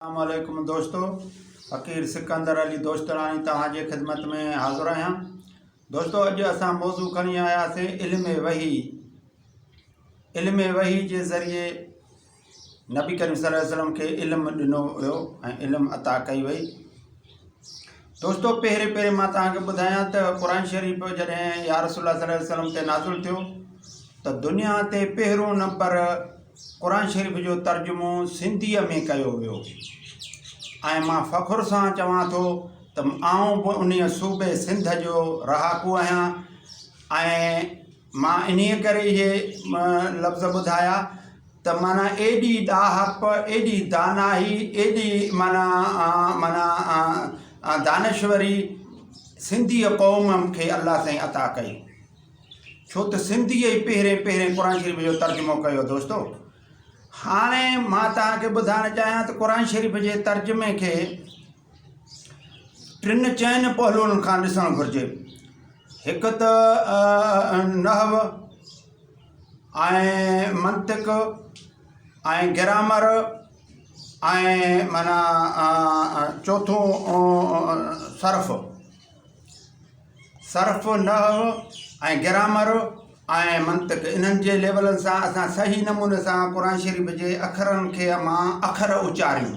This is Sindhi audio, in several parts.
اسلام عليڪم دوستو فقير سڪندر علي دوستڙاڻي توهان جي خدمت ۾ حاضر آهيان دوستو اڄ اسان موضوع کڻي آياسي علم وحي علم وحي جي ذريعي نبي ڪريم صلي الله عليه وسلم کي علم ڏنو ويو ۽ علم عطا ڪئي وئي دوستو پهرين پهرين مان توهان کي ٻڌايان ته قرآن شريف جڏهن يا رسول الله صلي الله عليه وسلم تي نازل ٿيو ته دنيا تي پهريون نمبر قرآن شريف جو ترجمو سنڌيء ۾ ڪيو ويو ۽ مان فخر سان چوان ٿو ته آئون به انهيء صوبي سنڌ جو رهاڪو آهيان ۽ مان انهيء ڪري اهي لفظ ٻڌايا ته معنيٰ ايڏي ڏاهپ، ايڏي دانائي، ايڏي معنيٰ معنيٰ دانشوري سنڌيء قوم کي الله سائين عطا ڪئي. ڇو ته سنڌيء ئي پهرين پهرين قرآن شريف جو ترجمو ڪيو دوستو. هاڻي مان توهان کي ٻڌائڻ چاهيان ته قرآن شريف جي ترجمي کي ٽن چئن پهلوئن کان ڏسڻ گهرجي. هڪ ته نحو ۽ منطق ۽ گرامر ۽ معنيٰ چوٿون صرف صرف نحو ۽ گرامر ۽ منطق انهن جي ليولن سان اسان صحيح نموني سان قرآن شريف جي اکرن کي مان اکر اچاريون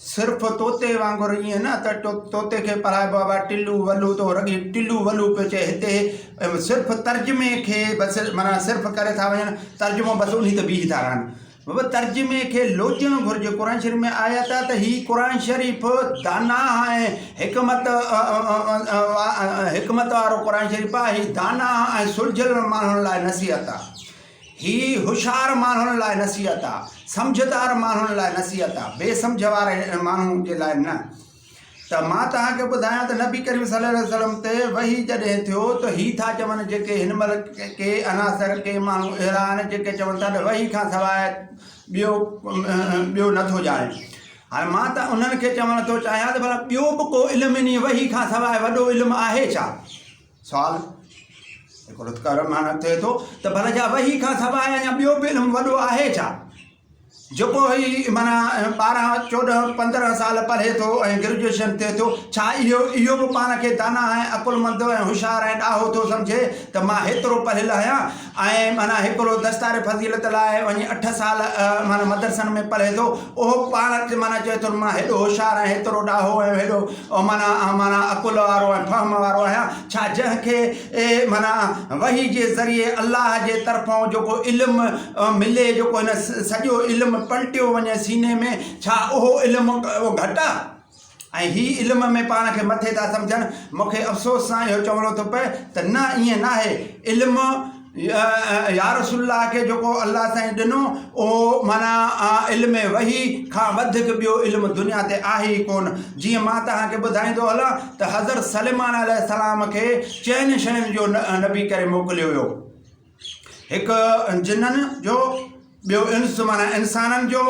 صرف طوطي وانگر ائين نه ته طوطي کي پڙهائبو آهي بابا ٽلو ولو تو رڳي ٽلو ولو پيو چئي هتي صرف ترجمي کي بس معنيٰ صرف ڪري ٿا وڃن ترجمو بس انهي تي بيهي ٿا رهن بابا ترجمي کي لوچڻ گهرجي قرآن شريف ۾ آيا ٿا ته هي قرآن شريف دانا ۽ حڪمت حڪمت وارو قرآن شريف آهي هي دانا ۽ سلجهيل ماڻهن لاء نصيحت آهي هي هوشيار ماڻهن لاء نصيحت آ، سمجهدار ماڻهن لاء نصيحت آ، بي سمجهه واري ماڻهن جي لاء نه. ته مان توهان کي ٻڌايان ته نبي ڪريم صلي الله عليه وسلم تي وحي جڏهن ٿيو ته هي ٿا چون جيڪي هن مهل ڪي عناصر ڪي ماڻهو اهڙا آهن جيڪي چون ٿا ته وحي کان سواء ٻيو ٻيو نه ٿو ڄاڻي هاڻي مان ته انهن کي چوڻ ٿو چاهيان ته ڀلا ٻيو به ڪو علم انهي وحي کان سواء وڏو علم آهي ڇا؟ سوال، جيڪو لطف ڪار معنيٰ ٿئي ٿو ته ڀلا جا وحي کان سواء اڃا ٻيو به علم وڏو آهي ڇا؟ جيڪو هي معنيٰ ٻارهن چوڏهن پندرهن سال پڙهي ٿو ۽ گريجوئيشن ٿئي ٿو، ڇا اهو اهو به پاڻ کي داناء ۽ عقلمند ۽ هوشيار ۽ ڏاهو ٿو سمجهي ته مان هيترو پڙهيل آهيان؟ ۽ معنيٰ هڪڙو دستار فضيلت لاء وڃي اٺ سال معنيٰ مدرسن ۾ پڙهي ٿو اهو پاڻ معنيٰ چوي ٿو مان هيڏو هوشيار ۽ هيترو ڏاهو ۽ هيڏو معنيٰ معنيٰ عقل وارو ۽ فهم وارو آهيان ڇا جنهن کي معنيٰ وحي جي ذريعي الله جي طرفون جيڪو علم ملي جيڪو هن سڄو علم پلٽيو وڃي سيني ۾ ڇا اهو علم گهٽ آهي ۽ هي علم ۾ پاڻ کي مٿي ٿا سمجهن، مون کي افسوس سان اهو چوڻو ٿو پئي ته نه ائين ناهي، علم يارسول الله کي جيڪو الله سائين ڏنو اهو معنيٰ علم وحي کان وڌيڪ ٻيو علم دنيا تي آهي ئي ڪونه، جيئن مان توهان کي ٻڌائيندو هلان ته حضرت سليمان عليه السلام کي چئن شين جو نبي ڪري موڪليو ويو. هڪ جنن جو، ٻيو انس معنيٰ انسانن جو،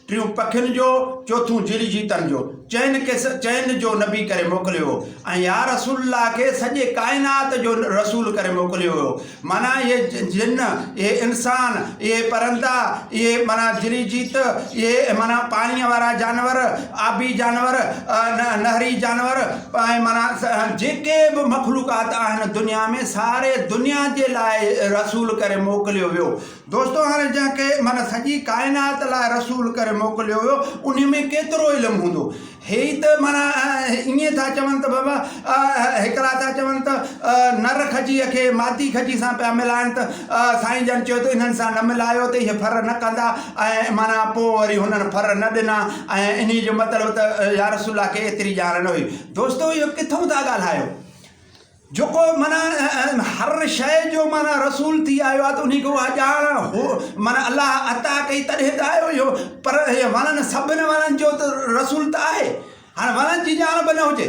ٽيون پکين جو، چوٿون جڙي جيتن جو. چئن کي سه چئن جو نبي ڪري موڪليو هو ۽ يا رسول الله کي سڄي ڪائنات جو رسول ڪري موڪليو ويو هو. معنيٰ اهي جن، اهي انسان، اهي پرندا، اهي معنيٰ جڙي جيت، اهي معنيٰ پاڻيء وارا جانور، آبي جانور، نهري جانور، پائي معنيٰ جيڪي به مخلوقات آهن دنيا ۾ ساري دنيا جي لاء رسول ڪري موڪليو ويو دوستو هاڻي جنهن کي معنيٰ سڄي ڪائنات لاء رسول ڪري موڪليو ويو انهي ۾ ڪيترو علم هوندو هي ئي ته معنيٰ ائين ٿا چون ته بابا هڪڙا ٿا چون ته نر کجيء کي مادي کجي سان پيا ملائن ته سائين جن چيو ته انهن سان نه ملايو ته اهي ڦر نه ڪندا ۽ معنيٰ پوء وري هنن ڦر نه ڏنا ۽ انهيء جو مطلب ته يا رسول الله کي ايتري ڄاڻ نه هئي. دوستو اهو ڪٿون ٿا ڳالهايو. جيڪو معنيٰ هر شيء جو معنيٰ رسول ٿي آيو آهي ته انهيء کي اها ڄاڻ هو معنيٰ الله عطا ڪئي تڏهن ته آيو اهو پر وڻن سڀن وڻن جو ته رسول ته آهي هاڻي وڻن جي ڄاڻ به نه هجي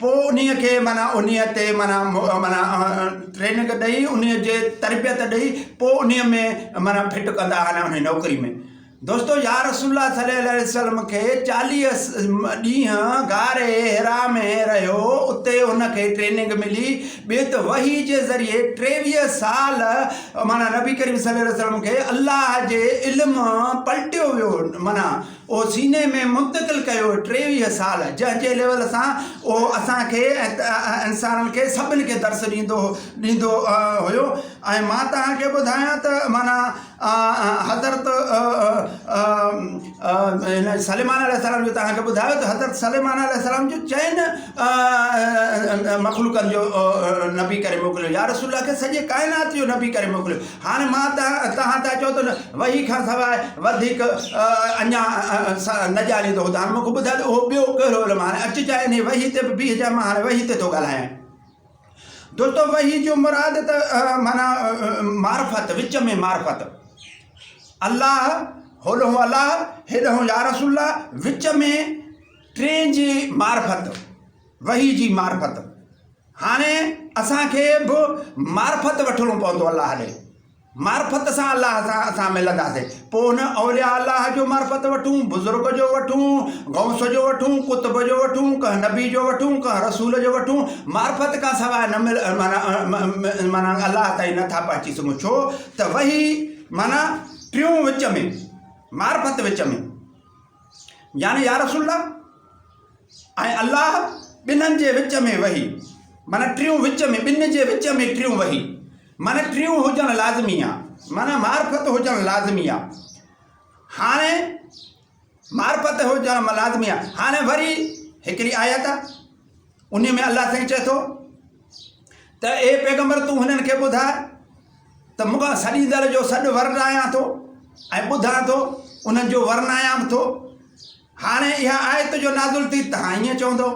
پوء انهيء کي معنيٰ انهيء تي معنيٰ معنيٰ ٽريننگ ڏئي انهيء جي تربيت ڏئي پوء انهيء ۾ معنيٰ فٽ ڪندا آهن انهيء نوڪري ۾ دوستو يا رسول الله صلي الله عليه وسلم کي چاليهه ڏينهن غار حرا ۾ رهيو اتي ان کي ٽريننگ ملي ٻيت وحي جي ذريعي ٽيويهه سال معنيٰ نبي ڪريم صلي الله عليه وسلم کي الله جي علم پلٽيو ويو معنيٰ اهو سيني ۾ منتقل ڪيو ٽيويهه سال جنهن جي ليول سان اهو اسان کي ۽ انسانن کي سڀن کي درس ڏيندو ڏيندو هيو ۽ مان توهان کي ٻڌايان ته معنيٰ حضرت هن سليمان عليه السلام جو توهان کي ٻڌايو ته حضرت سليمان عليه السلام جو چئن مخلوقن جو نبي ڪري موڪليو يا رسول الله کي سڄي ڪائنات جو نبي ڪري موڪليو هاڻي مان ته توهان ته چئو ته وحي کان سواء وڌيڪ اڃا نه ڄاڻين ٿو هاڻي مونکي ٻڌاء ته اهو ٻيو ڪهڙو علم هاڻي اچ چاهي انهي وحي تي به بيهه چاهي مان هاڻي وحي تي ٿو ڳالهايان دوستو وحي جو مراد ته معنيٰ معرفت وچ ۾ معرفت الله هولهون الله هيڏهون يا رسول الله وچ ۾ ٽين جي معرفت وحي جي معرفت هاڻي اسان کي به معرفت وٺڻو پوندو الله ڏي معرفت سان الله سان اسان ملنداسين پوء ان اولياء الله جو معرفت وٺون بزرگ جو وٺون غوث جو وٺون قطب جو وٺون ڪنهن نبي جو وٺون ڪنهن رسول جو وٺون معرفت کان سواء نه مل معنی معنی الله تائين نٿا پهچي سگهون ڇو ته وهي معنی ٽيون وچ ۾ معرفت وچ ۾ يعني يا رسول الله ۽ الله ٻنهن جي وچ ۾ وهي، معنيٰ ٽيون وچ ۾، ٻن جي وچ ۾ ٽيون وهي، معنيٰ ٽيون هجڻ لازمي آ، معنيٰ معرفت هجڻ لازمي آ. هاڻي معرفت هجڻ لازمي آ. هاڻي وري هڪڙي آيت آ، انهي ۾ الله سائين چئي ٿو ته اي پيغمبر تون هنن کي ٻڌاء ته مون کان سڏيندڙ جو سڏ ورنايان ٿو ۽ ٻڌان ٿو، انهن جو ورنايان به ٿو. هاڻي اها آيت جو نازل ٿي توهان ائين چوندؤ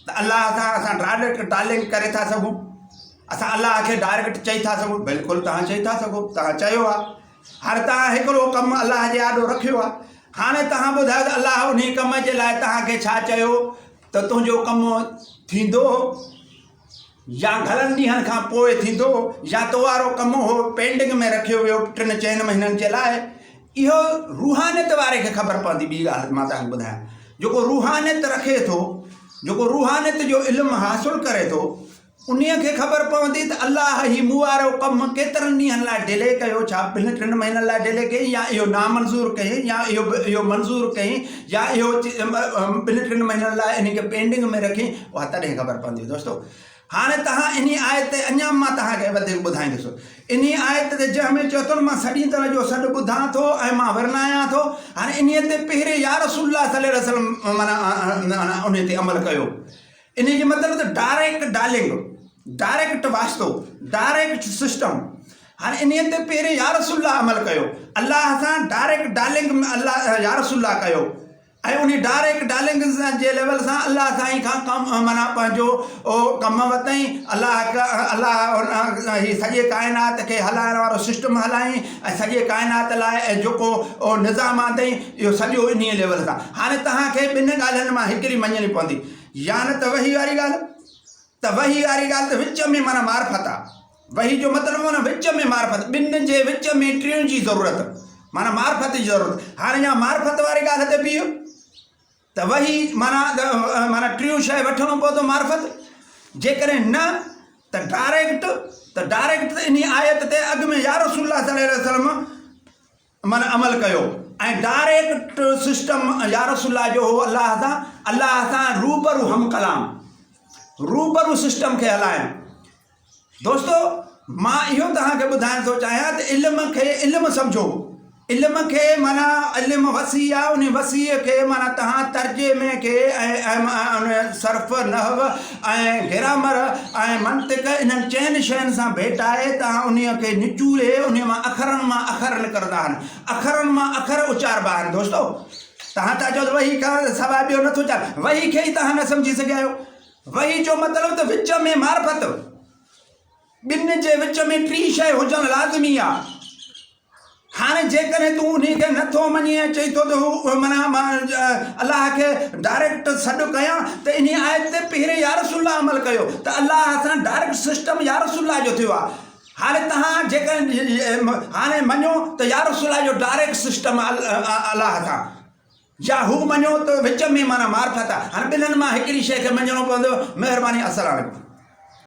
ته الله سان اسان ڊائريڪٽ ٽالنگ ڪري ٿا سگهون اسان الله کي ڊائريڪٽ چئي ٿا سگهون بلڪل توهان چئي ٿا سگهو توهان چيو آهي هر توهان هڪڙو ڪم الله جي آڏو رکيو آهي هاڻي توهان ٻڌايو ته الله انهي ڪم جي لاء توهان کي ڇا چيو ته تنهنجو ڪم ٿيندو يا گهڻن ڏينهن کان پوء ٿيندو يا تو وارو ڪم اهو پينڊنگ ۾ رکيو ويو ٽن چئن مهينن جي لاء اهو روحانيت واري کي خبر پوندي ٻي ڳالهه مان تهان کي ٻڌايان جيڪو روحانيت رکي ٿو جيڪو روحانيت جو علم حاصل ڪري ٿو انهي کي خبر پوندي ته الله هي مون وارو ڪم ڪيترن ڏينهن لاء ڊيلي ڪيو ڇا ٻن ٽن مهينن لاء ڊيلي ڪيئي يا اهو نامنظور ڪيئي يا اهو اهو منظور ڪيئي يا اهو ٻن ٽن مهينن لاء انهي کي پينڊنگ ۾ رکين اها تڏهن خبر پوندي دوستو هاڻي تهان انهي آيت تي اڃا مان تهان کي وڌيڪ ٻڌائيندس انهي آيت تي جنهن ۾ چيو اٿن مان سڏيندڙ جو سڏ ٻڌان ٿو ۽ مان ورنايان ٿو هاڻي انهي تي پهرين يا رسول الله صلي الله عليه وسلم معنيٰ انهي تي عمل ڪيو انهيء جو مطلب ته ڊائريڪٽ ڊائلنگ، ڊائريڪٽ واسطو، ڊائريڪٽ سسٽم. هن انهيء تي پهرين يا رسول الله عمل ڪيو. الله سان ڊائريڪٽ ڊائلنگ الله يا رسول الله ڪيو ۽ انهيء ڊائريڪٽ ڊائلنگ جي ليول سان الله سائين کان ڪم معنيٰ پنهنجو ڪم ورتائين. الله الله هي سڄي ڪائنات کي هلائڻ وارو سسٽم هلائين ۽ سڄي ڪائنات لاء جيڪو نظام آندائين اهو سڄو انهيء ليول سان. هاڻي توهان کي ٻن ڳالهين مان هڪڙي مڃڻي پوندي. يا نه ته وحي واري ڳالهه ته وحي واري ڳالهه ته وچ ۾ معنيٰ معرفت آ وحي جو مطلب هو نه وچ ۾ معرفت ٻن جي وچ ۾ ٽين جي ضرورت معنيٰ معرفت جي ضرورت هاڻي يا معرفت واري ڳالهه تي بيهه ته وحي معنيٰ معنيٰ ٽيون شاي وٺڻو پوندو معرفت جيڪڏهن نه ته ڊائريڪٽ ته ڊائريڪٽ ته انهي آيت تي اڳ ۾ يا رسول الله صلي الله عليه وسلم من عمل ڪيو ۽ ڊائريڪٽ سسٽم يارسول الله جو هو الله سان الله سان روبرو هم ڪلام روبرو سسٽم کي هلائڻ دوستو مان اهو توهان کي ٻڌائڻ ٿو چاهيان ته علم کي علم سمجھو علم کي مانا علم وسيع آ ان وسيع کي مانا توهان ترجمي کي ۽ ان صرف نحو ۽ گرامر ۽ منطق انهن چئن شين سان ڀيٽائي ته انهي کي نچوڙي انهي مان اکرن مان اکر نڪرندا آهن اکرن مان اکر اچاربا آهن دوستو تهان ٿا چئو ته وحي کان سواء ٻيو نٿو چاهي وحي کي ئي تهان نه سمجهي سگهيا آهيو وحي جو مطلب ته وچ ۾ معرفت ٻن جي وچ ۾ ٽي شيء هجڻ لازمي آهي هاڻي جيڪڏهن تون انهي کي نه ٿو مڃين ۽ چئين ٿو ته هو معنيٰ مان الله کي ڊائريڪٽ سڏ ڪيان ته انهي آيت تي پهرين يا رسول الله عمل ڪيو ته الله سان ڊائريڪٽ سسٽم يا رسول الله جو ٿيو آهي هاڻي توهان جيڪڏهن هاڻي مڃو ته يا رسول الله جو ڊائريڪٽ سسٽم الله سان يا هو مڃو ته وچ ۾ معنيٰ معرفت آهي هاڻي ٻنهن مان هڪڙي شيء کي مڃڻو پوندو مهرباني السلام عليڪم